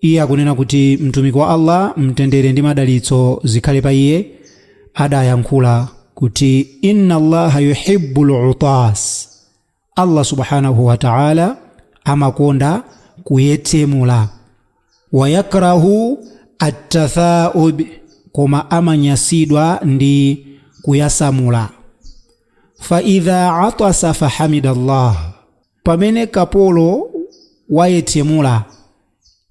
Iye akunena kuti Mtumiki wa Allaah Mtendere ndi Madalitso zikhale pa iye adayankhula kuti, Inna Allaaha yuhibbul 'utaas, Allaah Subhaanahuu Wata'aalaa amakonda kuyetsemula, wa yakrahu at-tathaa'ub, koma amanyasidwa ndi kuyasamula, fa idhaa 'atasa fahamida Allaah, Pamene kapolo wayetsemula,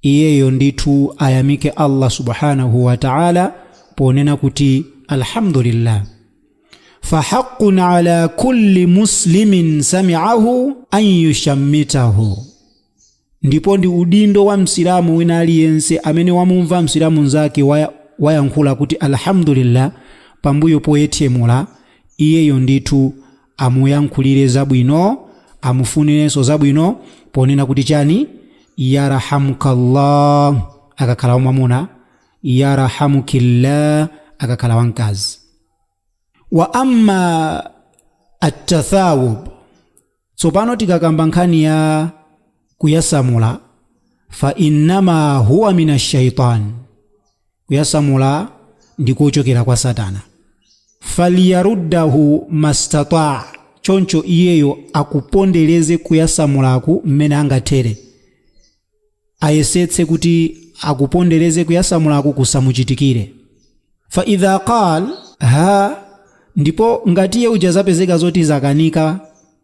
iyeyo ndithu ayamike Allah Subhaanahu wa Ta'ala ponena kuti Alhamdulillah. Fahaqqun ala kulli Muslimin sami'ahu an yushammitahu. Ndipo ndi udindo wa Msilamu wina aliyense amene wamumva Msilamu mnzake wayankhula kuti Alhamdulillah pambuyo poyetsemula, iyeyo ndithu amuyankhulire zabwino, amufunirenso zabwino ponena kuti chani? Yarhamukallah akakhala wamwamuna, yarhamukillah akakhala wamkazi. Wa amma attathawub, tsopano tikakamba nkhani ya. kuyasamula fa innama huwa min ashaitan kuyasamula ndi kochokera kwa satana falyaruddahu mastataa choncho iyeyo akupondereze kuyasamulaku mmene angathere ayesetse kuti akupondereze kuyasamulaku kusamuchitikire fa idha qal ha ndipo ngati iye uja zapezeka zoti zakanika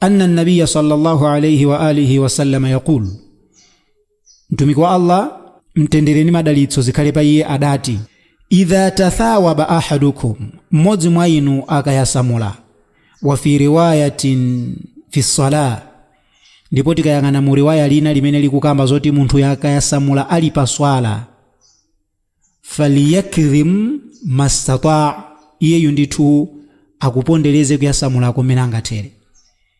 anna nabiya sallallahu alaihi wa alihi wasallama yaqul mtumiki wa allah mtendere ndi madalitso zikhale pa iye adati idha tathawaba ahadukum mmodzi mwa inu akayasamula wa fi riwayatin fi sala ndipo tikayang'ana mu riwaya lina limene likukamba zoti munthu akayasamula ali pa swala faliyakdhim mastata, iyeyu ndithu akupondereze kuyasamula mmene angathere.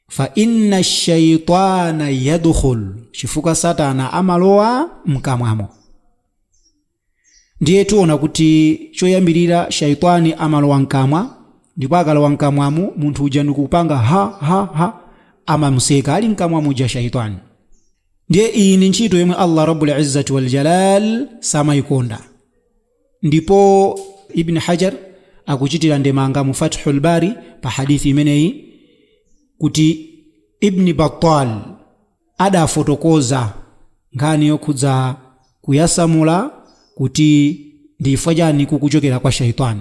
Fa inna shaitana yadkhul, chifukwa Satana amalowa mkamwamo. Ndiye tiona kuti choyambirira shaitani amalowa mkamwa, ndipo akalowa mkamwamo munthu uja ndikupanga ha ha ha, amamuseka ali mkamwa muja shaitani. Ndiye iyi ndi ntchito yomwe Allah Rabbul Izzati wal Jalal samayikonda. Ndipo Ibn Hajar akuchitira ndemanga mu Fathul Bari pa hadithi imeneyi kuti Ibn Battal adafotokoza nkhani yokhudza kuyasamula kuti ndi chifukwa chani kukuchokera kwa shaytan.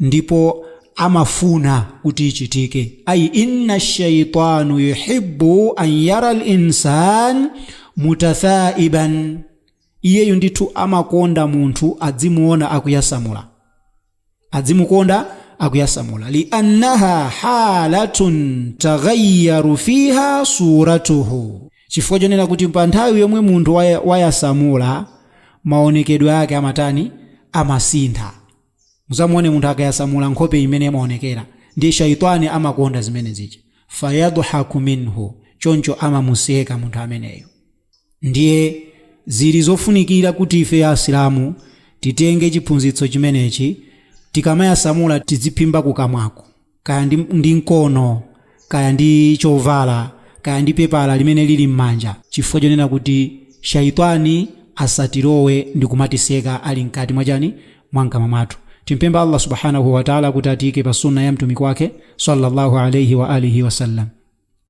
ndipo amafuna kuti ichitike ayi inna shaitanu yuhibbu an yara linsan mutathaiban iyeyu ndithu amakonda munthu adzimuona akuyasamula adzimukonda akuyasamula liannaha halatun taghayyaru fiha suratuhu chifukwa chonena kuti pa nthawi yomwe munthu wayasamula maonekedwe ake amatani amasintha Muzamuone munthu akayasamula nkhope imene imaonekera, ndiye shaitani amakonda zimene zija, fayadhhaku minhu, choncho amamuseka munthu ameneyo. Ndiye zili zofunikira kuti ifeyo Asilamu titenge chiphunzitso chimenechi, tikamayasamula tidziphimba kukamwako. kaya ndi mkono kaya ndi chovala kaya ndi pepala limene lili m'manja chifukwa chonena kuti shaitani asatilowe ndi kumatiseka ali mkati mwachani mwa nkamwa mwathu timpemphe allah subhanahu wataala kuti atiyike pa sunna ya mtumiki wake sallallahu alaihi wa alihi wasallam